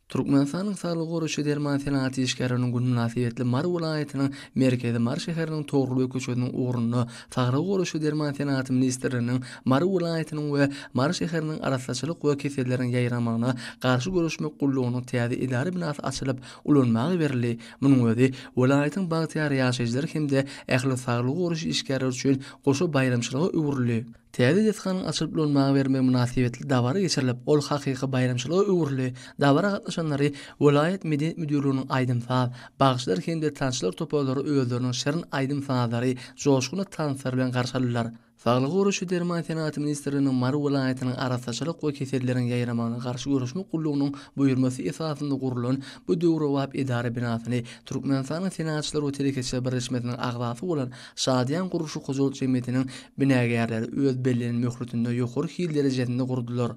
Türkmenistanyň Saglygy goraýyş we derman senagaty işgärleriniň güni mynasybetli Mary welaýatynyň merkezi Mary şäheriniň Togrulbeg köçesiniň ugrunda Saglygy goraýyş we derman senagaty ministrliginiň Mary welaýatynyň we Mary şäheriniň Arassaçylyk we keselleriň ýaýramagyna garşy göreşmek gullugynyň täze edara binasy açylyp ulanmaga berildi. Munuň özi welaýatyň bagtyýar ýaşaýjylary hem-de ähli saglygy goraýyş işgärleri üçin goşa baýramçylyga öwrüldi. Täze desganyň açylyp ulanmaga bermegi mynasybetli dabara geçirilip, ol hakyky baýramçylyga öwrüldi. Dabara gatnaşanlary welaýat medeniýet müdirliginiň aýdym-saz, bagşylar hem-de tansçylar toparlary özleriniň şirin aýdym-sazlary, joşgunly tanslary bilen garşy aldylar. Saglygy goraýyş we derman senagaty ministrliginiň Mary welaýatynyň Arassaçylyk we keselleriň ýaýramagyna garşy göreşmek gullugynyň buýurmasy esasynda gurlan bu döwrebap edara binasyny Türkmenistanyň Senagatçylar we telekeçiler birleşmesiniň agzasy bolan Şadyýan gurluşyk hojalyk jemgyýetiniň binagärleri öz bellenen möhletinde ýokary hil derejesinde gurdular.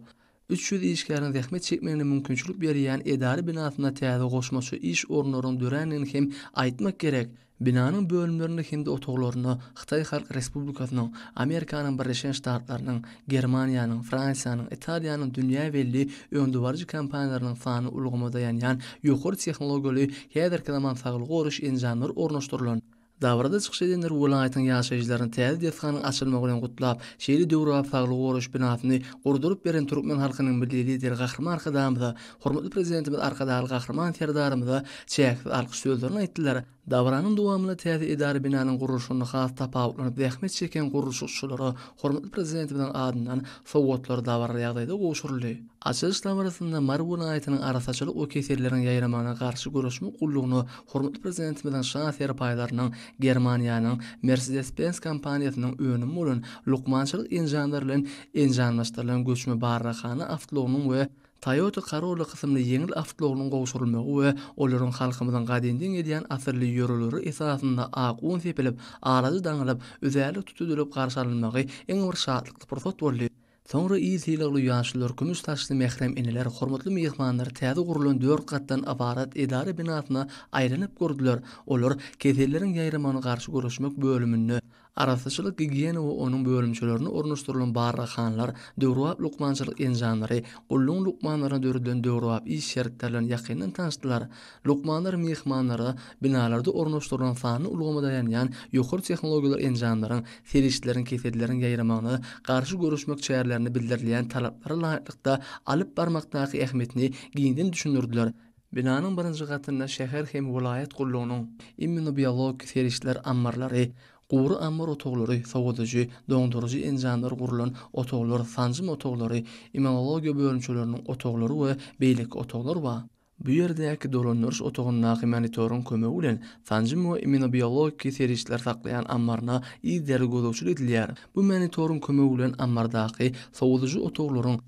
Üç ýüz işgäriň zähmet çekmegine mümkinçilik berýän edara binasynda täze goşmaça iş orunlarynyň dörändigini hem aýtmak gerek. Binanyň bölümlerinde hem-de otaglarynda Hytaý Halk Respublikasynyň, Amerikanyň Birleşen Ştatlarynyň, Germaniýanyň, Fransiýanyň, Italiýanyň dünýä belli öňdebaryjy kompaniýalarynyň sanly ulgama daýanýan ýokary tehnologiýaly häzirki zaman saglygy goraýyş enjamlary ornaşdyrylan. Dabarada çykyş edenler welaýatyň ýaşaýjylaryny täze desganyň açylmagy bilen gutlap, şeýle döwrebap saglygy goraýyş binasyny gurduryp beren türkmen halkynyň Milli Lideri Gahryman Arkadagymyza, hormatly Prezidentimiz Arkadagly Gahryman Serdarymyza çäksiz alkyş sözlerini aýtdylar. Dabaranyň dowamynda täze edara binanyň gurluşygynda has tapawutlanyp zähmet çeken gurluşykçylara hormatly Prezidentimiziň adyndan sowgatlar dabaraly ýagdaýda gowşuryldy. Açylyş dabarasynda Mary welaýatynyň Arassaçylyk we keselleriň ýaýramagyna garşy göreşmek gullugyna hormatly Prezidentimiziň şa serpaýlarynyň Germaniýanyň Mercedes-Benz kompaniýasynyň önümi bolan lukmançylyk enjamlary bilen enjamlaşdyrylan göçme barraghana awtoulagynyň we Toyota Corolla kysymly ýeňil awtoulagynyň gowşurylmagy we olaryň halkymyzyň gadymdan gelýän asylly ýörelgleri esasynda ak un sepilip, alaja daňylyp, üzärlik tutudylyp garşy alynmagy iň bir şatlykly pursat boldy. Soňra il sylagly ýaşlar, kümüş saçly mährem eneler hormatly myhmanlary täze gurlan dört gatdan ybarat edara binasyna aýlanyp gördüler, olar Keselleriň ýaýramagyna garşy göreşmek bölüminde, Arassaçylyk-gigiýena we onuň bölümçelerinde ornaşdyrylan barlaghanlar, döwrebap lukmançylyk enjamlary, gullugyň lukmanlaryna döredilen döwrebap iş şertleri bilen ýakyndan tanyşdylar. Lukmanlar myhmanlara binalarda ornaşdyrylan sanly ulgama daýanýan ýokary tehnologiýaly enjamlaryň, serişdeleriň keseldileriň ýaýramagyna garşy göreşmek çärelerinde bildirilýän talaplara laýyklykda alyp barmakdaky ähmiýetini giňden düşündirdiler. Binanyň birinji gatynda şäher hem welaýat gullugynyň immunobiologik serişdeler ammarlary, gury ammar otaglary, sowadyjy, doňduryjy enjamlar gurlan otaglar, sanjym otaglary, immunologiýa bölümçeleriniň otaglary we beýleki otaglar bar. Bu ýerdäki dolandyryş otagyndaky monitoryň kömegi bilen sanjym we immunobiologiki serişdeler saklaýan ammaryna yzýaly gözegçilik edilýär. Bu monitoryň kömegi bilen ammardaky sowadyjy otaglaryň,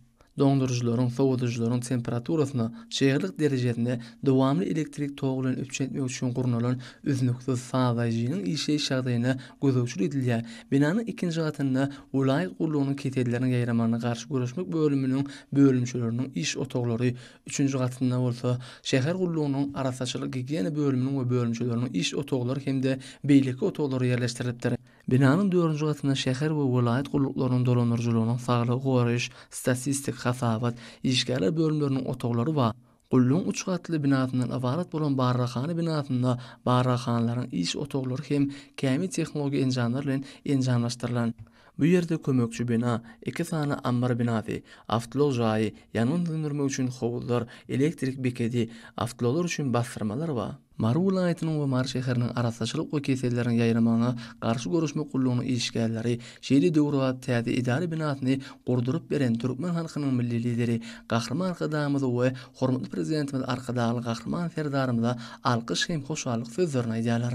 doňduryjylaryň, sowadyjylaryň temperaturasyna, çyglyk derejesine dowamly elektrik togy bilen üpjün etmek üçin gurnalan üznüksiz sazlaýjynyň işleýiş ýagdaýyna gözegçilik edilýär. Binanyň ikinji gatynda welaýat gullugynyň keselleriniň ýaýramagyna garşy göreşmek bölüminiň bölümçeleriniň iş otaglary, üçünji gatynda bolsa şäher gullugynyň arassaçylyk-gigiýena bölüminiň we bölümçeleriniň iş otaglary hem-de beýleki otaglar ýerleşdirilipdir. Binanyň dördünji gatynda şäher we welaýat gulluklarynyň dolandyryjylygynyň saglygy goraýyş, statistik, hasabat, işgärler bölümleriniň otaglary bar. Gullugyň üç gatly binasyndan ybarat bolan barlaghana binasynda barlaghanalaryň iş otaglary hem kämil tehnologik enjamlar bilen enjamlaşdyrylan. Bu ýerde kömekçi bina, iki sany ammar binasy, awtoulag jaýy, ýangyn söndürmek üçin howuzlar, elektrik bekedi, awtoulaglar üçin basdyrmalar bar. Mary welaýatynyň we Mary şäheriniň Arassaçylyk we keselleriň ýaýramagyna garşy göreşmek gullugynyň işgärleri şeýle döwrebap täze edara binasyny gurduryp beren türkmen halkynyň Milli Lideri Gahryman Arkadagymyza we hormatly Prezidentimiz Arkadagly Gahryman Serdarymyza alkyş hem hoşallyk sözlerini aýdýarlar.